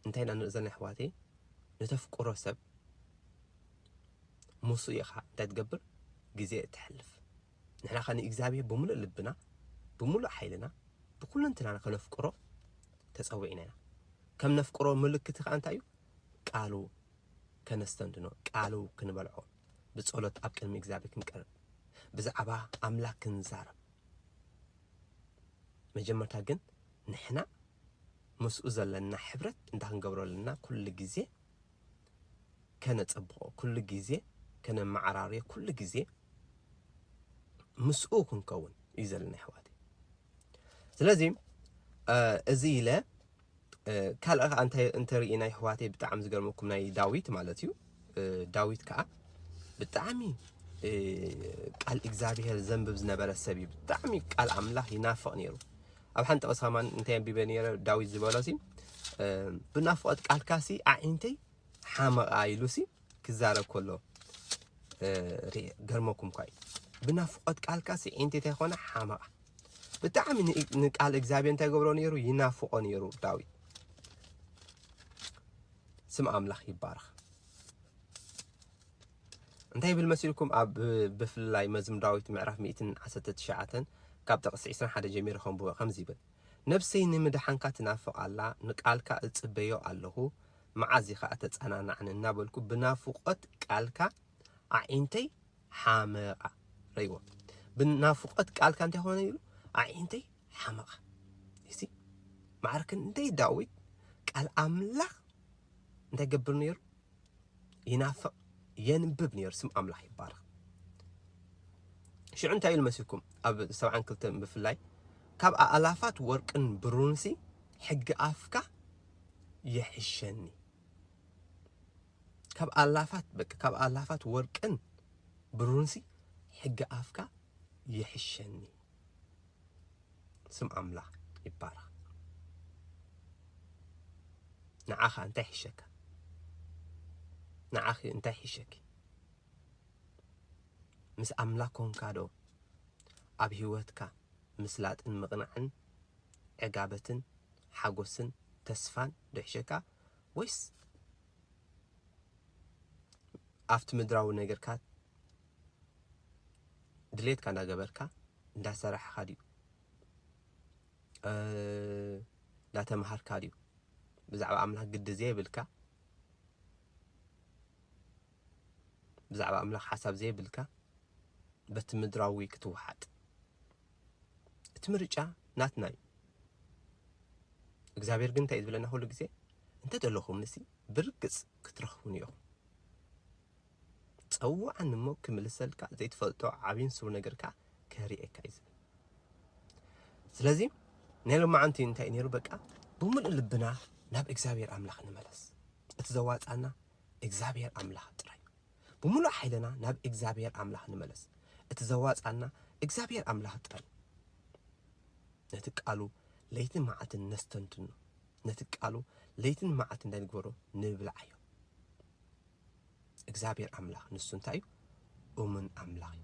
እንታይ ኢና ንርኢ ዘለና የሕዋተይ ንተፍቅሮ ሰብ ሞስኡ ኢኻ እንታይ ትገብር ግዜ እተሕልፍ ንሕና ከኣ ንእግዚኣብሄር ብምሉእ ልብና ብምሉእ ሓይልና ብኩልንትናና ከነፍቅሮ ተጸዊዕና ኢና ከም ነፍቅሮ ምልክቲ ከኣ እንታይ እዩ ቃሉ ከነስተንትኖ ቃሉ ክንበልዖ ብጸሎት ኣብ ቅድሚ እግዚኣብሄር ክንቀርብ ብዛዕባ ኣምላክ ክንዛረብ መጀመርታ ግን ንሕና ምስኡ ዘለና ሕብረት እንታይ ክንገብሮ ኣለና ኩሉ ግዜ ከነጸብቆ ኩሉ ግዜ ከነመዓራርዮ ኩሉ ግዜ ምስኡ ክንከውን እዩ ዘለና ኣሕዋተይ ስለዚ እዚ ኢለ ካልእ ከኣ እንታይ እንተሪኢና ኣሕዋተይ ብጣዕሚ ዝገርመኩም ናይ ዳዊት ማለት እዩ ዳዊት ከዓ ብጣዕሚ ቃል እግዚኣብሔር ዘንብብ ዝነበረ ሰብ እዩ ብጣዕሚ ቃል ኣምላኽ ይናፍቕ ነይሩ ኣብ ሓንቲ ቕሳማን እንታይ ኣንቢበ ነይረ ዳዊት ዝበሎ ሲ ብናፍቖት ቃልካ ሲ ኣዒንተይ ሓመቓ ኢሉ ሲ ክዛረብ ከሎ ገርመኩም እኳ እዩ ብናፍቖት ቃልካ ሲ ዒንተይ እንታይ ኮነ ሓመቓ ብጣዕሚ ንቃል እግዚኣብሔር እንታይ ገብሮ ነይሩ ይናፍቖ ነይሩ ዳዊት ስም ኣምላኽ ይባረኽ። እንታይ ይብል መሲልኩም ኣብ ብፍላይ መዝሙር ዳዊት ምዕራፍ 119 ካብ ጥቕሲ 21 ጀሚሩ ከንብቦ ከምዚ ይብል ነብሰይ ንምድሓንካ ትናፍቕ ኣላ ንቃልካ እጽበዮ ኣለኹ መዓዝ ኢኻ እተጸናናዕኒ እናበልኩ ብናፍቆት ቃልካ ኣዒንተይ ሓመቓ ረይዎ ብናፍቆት ቃልካ እንታይ ኾነ ይብሉ ኣዒንተይ ሓመቐ ይሲ ማዕረ ክንደይ ዳዊት ቃል ኣምላኽ እንታይ ይገብር ነይሩ ይናፍቕ የንብብ ነይሩ ስም ኣምላኽ ይባረኽ ሽዑ እንታይ ኢሉ መሲልኩም ኣብ ሰብዓን ክልተን ብፍላይ ካብ ኣእላፋት ወርቅን ብሩንሲ ሕጊ ኣፍካ ይሕሸኒ ካብ ኣላፋት በቃ ካብ ኣላፋት ወርቅን ብሩንሲ ሕጊ ኣፍካ ይሕሸኒ ስም ኣምላክ ይባረክ ንዓካ እንታይ ይሕሸካ ንዓኪ እንታይ ይሕሸኪ ምስ ኣምላክ ኮንካ ዶ ኣብ ሂወትካ ምስላጥን ምቕናዕን ዕጋበትን ሓጎስን ተስፋን ዶ ይሕሸካ ወይስ ኣብቲ ምድራዊ ነገርካ ድሌትካ እንዳገበርካ እንዳሰራሕኻ ድዩ እንዳተማሃርካ ድዩ ብዛዕባ ኣምላኽ ግዲ ዘይብልካ ብዛዕባ ኣምላኽ ሓሳብ ዘይብልካ በቲ ምድራዊ ክትወሓጥ እቲ ምርጫ ናትና እዩ እግዚኣብሔር ግን እንታይ እዩ ዝብለና ኩሉ ግዜ እንተደለኹም ንሲ ብርግፅ ክትረኽቡኒ ኢኹም ጸውዓኒ እሞ ክምልሰልካ ዘይትፈልጦ ዓብይን ስሩን ነገር ከኣ ከርእየካ እዩ ዝብል ስለዚ ናይ ሎማዓንቲ እንታይ ነይሩ በቃ ብምሉእ ልብና ናብ እግዚኣብሔር ኣምላኽ ንመለስ እቲ ዘዋጻና እግዚኣብሔር ኣምላኽ ጥራይ ብምሉእ ሓይልና ናብ እግዚኣብሔር ኣምላኽ ንመለስ እቲ ዘዋጻና እግዚኣብሔር ኣምላኽ ጥራይ ነቲ ቃሉ ለይትን መዓልትን ነስተንትኖ ነቲ ቃሉ ለይትን መዓልትን እንታይ ንግበሮ ንብልዓዮ እግዚኣብሔር ኣምላኽ ንሱ እንታይ እዩ? እሙን ኣምላኽ እዩ።